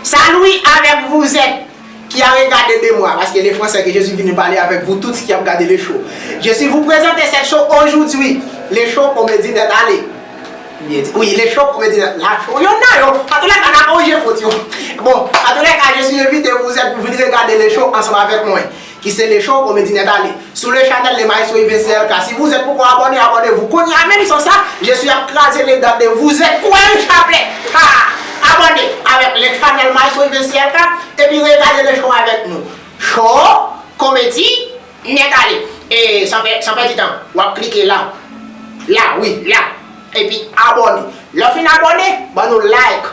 Salui avèk vouzè ki a regade de mwa, paske le Fransè ke Jezi vini pale avèk vou tout ki ap gade le cho. Je si vou prezante sèt cho ojoudui, le cho komedi nèt ale. Wi, le cho komedi nèt la cho. Yon nan yo, an tou lè ka na konje fout yo. Bon, an tou lè ka je si envite vouzè pou vini regade le cho ansanm avèk mwen. Ki se Lecho komedi nèt ale. Sou le chanèl le maestro yve CLK si vouzèt poko abòne abòne vou kounya menm san sa Jesús ap kraze le dan de vouzèt kou a yon chaplè haa abòne avèk le chanèl maestro yve CLK epi regade le cho avèk nou Cho komedi nèt ale e san pè san pèdi tan wap klike la la wi la epi abòne lè w fin abòne ban nou like.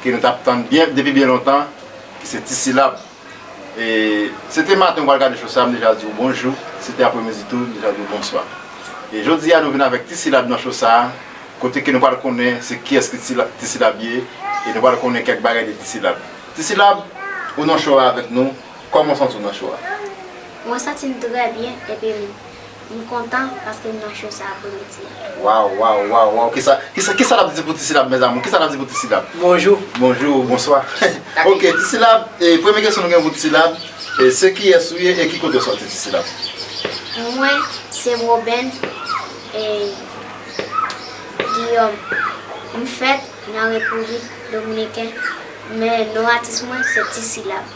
Ke nou tap tann byen depi byen lontan ki se ti silab e se te maten ou pral gade cho sa m deja di w bonjou se te apremidi tou m deja di w bonswa e jodi a nou vin avèk ti silab nan cho sa kote ke nou pral konnen se kiyès ki ti silab ye e nou pral konnen kèk bagay de ti silab ti silab ou nan cho a avèk nou kòman w santi w nan cho a. Mwen santi m trè byen epi m. M kontan paske m nan show sa pou nou di. Waw waw waw waw kisa kisa kisa nap di pou ti silab mes amour kisa nap di pou ti silab. Bonjou. Bonjou ou bonswa ok ti silab e premye kesyon nou gen pou ti silab e se kiyes ou ye e ki kote ou soti ti silab. Mwen se Roben e Guillaume m fèt nan repiblik dominiken men non atis mwen se ti silab.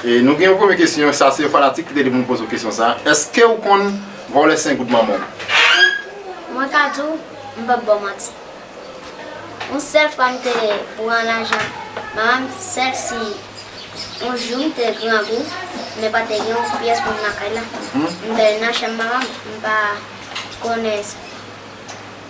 E nou gen yon premye kesyon, sa se yon fanatik ki te di pou nou poze w kesyon sa a. Eske ou konn vòlè sen goud manman w? Mwen ka di w, m pap ba w manti. Yon sèl fwa m te pran lajan manman m, sèl si yon jou m te grangou, men pa te gen yon pyès moun lakay la. M te nan chanm manman m, m pa konnen.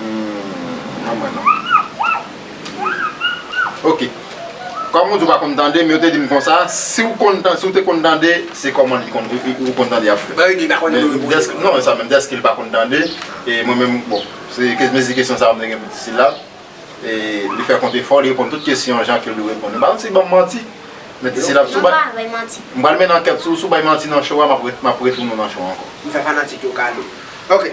Mwen mwen non Ok Kom ou di ou pa konn tande men yo te dim konsa si ou konn tande si ou te konn tande se koman li konn ou konn tande yap fèt Bagay li pa konn tande ou tande Non se sa menm deske li pa konn tande e mwen menm bon se mezi kesyon sa ou mwen gen pou disilab e li fè kont efò li reponn tout kesyon jan ke li reponn Mpa di banm manti men disilab sou bay Mpral mennen ankèt sou ou si ou bay manti nan show a map retounen nan show a ankò Mfè fanatik yo kado Ok.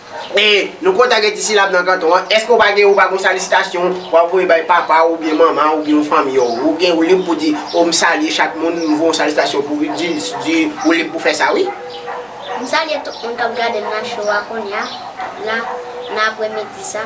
E, nou kontan gen ti silab nan kanton an. Èske ou pa gen ou pa gen yon salisitasyon w ap voye bay papa w oubyen manman w oubyen yon fanmi w? Ou gen ou lib pou di, o m salye chak moun, m voye yon salisitasyon pou Ruthdiles, di, ou lib pou fè sa wi. M salye tout moun k ap gade m nan show a kounya la nan apremidi sa.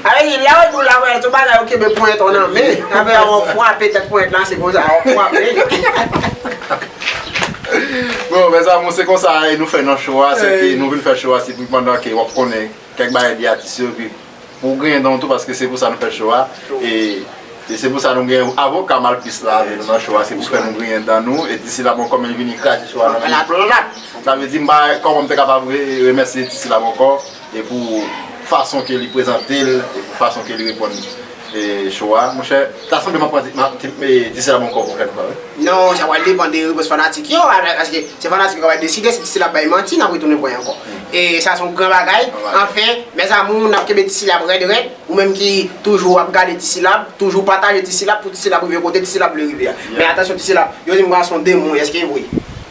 Ayy la ou dou la wè tout bagay ou kenbe ponyèt ou nan men apre a wap fwape tèt ponyèt la se konsa wap fwape. Bon mezanmi se konsa e nou fè nan cho a se ke nou vin fè cho a se pou pandan ke wap konnen kèk bagay de atis yo epi pou ou genyen dan ou tou paske se pou sa nou fè cho a e se pou sa nou gen avoka malpris la avè nou nan cho a se pou fè nou griyen dan nou e disi la bon kò men vini kraze cho a nan men nou sa vle di m pa koman m te kapab remèsye disi la bon kò. E pou fason ke li prezante l, e pou fason ke li reponn show a, monchè, ta sanble m ap di se la Boncoeur pou fè l pran wi. Non, sa pral depan de repons fanatik yo, paske se fanatik yo ki pral deside si Ti Sila ap bay manti, n ap retounen pran y ankò. E sa se yon gran bagay. Anfen, mes amours, n ap kenbe Ti Sila rèd rèd. Ou menm ki toujou ap gade Ti Sila, toujou pataje Ti Sila pou Ti Sila rive kote Ti Sila vle rive a. Men atansyon Ti Sila, yo di m gason demon, èske e vre?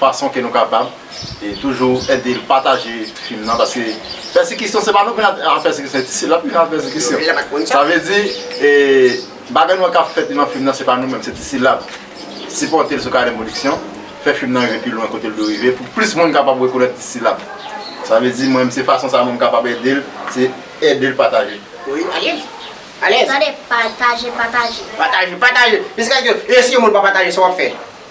fason ke nou kapab e toujou edel pataje fim nan paske pèsikisyon se pa nou vin al pèsikisyon se ti sèl la ki vin al pèsikisyon sa vle di e bagay nou wè kap fèt nan fim nan se pa nou menm se ti sèl la sipòtel sou Kaden Production fè fim nan rive pi lwen kotel dwe rive pou plis moun kapab rekonèt ti sèl la sa vle di mwen menm se fason sa mwen kapab edel se edel pataje wi alèz alèz tande pataje pataje pataje pataje jiskaske e si yon moun pa pataje sa wap fè.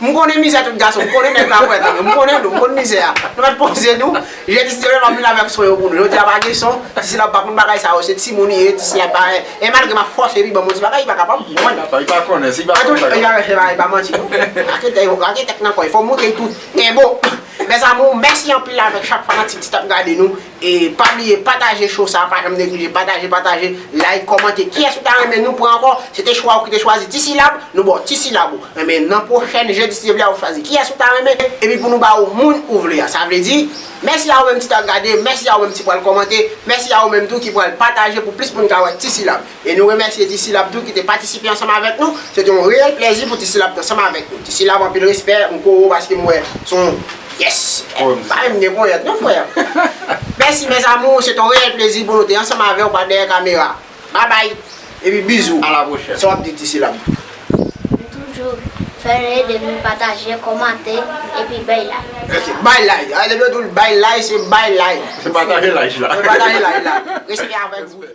M konnen mizè tout gason, m konnen nèg pa pwèt anyen, m konnen nou, m konn mizè a. Nou mèt poze nou, jè ti Siteren map vin avèk son yo pou nou. Jodi a pa gen son, ti Sila ou pa konn bagay sa yo, se timoun li ye, ti Sila pa wè. E malgre map fòse li banm yon ti bagay, li pa kapab, m konn. Li pa konnen, si li pa konn bagay. Antouk, li pa manti non. Ake tè yo, ake tèt nan kò yo, fò moutre tout. Enbo! Mèzamou, mèsi anpil avèk chak fanatik ki tap gade nou. E pa bliye pataje show sa pa janm neglije pataje pataje like kòmante kiyès ou ta renmen nou pran ankò se te chwa ou ki te chwazi ti silab nou baw ti silab ou renmen nan pwochèn jedi si Dye vle a ou chwazi kiyès ou ta renmen epi pou nou ba ou moun ou vle a sa vle di mèsi a ou menm ki ta gade mèsi a ou menm ti pral kòmante mèsi a ou menm tou ki pral pataje pou plis moun ka wè ti silab. E nou remèsye Tisilab tou ki te patisipe ansanm avèk nou. Se te yon reyèl plèzi pou Tisilab te ansanm avèk nou. Tisilab anpil respè, m ko ou paske m wè se yon pyès pa menm gen ponyèt non frè. Mèsi mes amours, se te yon reyèl plezi pou nou te ansanm avèw pa dèyè kamera. Babay epi bizou. A la pwochèn. Sa w ap di Tisilab? M toujou fè yon ede moun pataje, kòmante epi bay like. Ok, bay like. Depi yo di w bay like, se bay like. Se pataje like la. Se pataje like la. Respè avèk ou.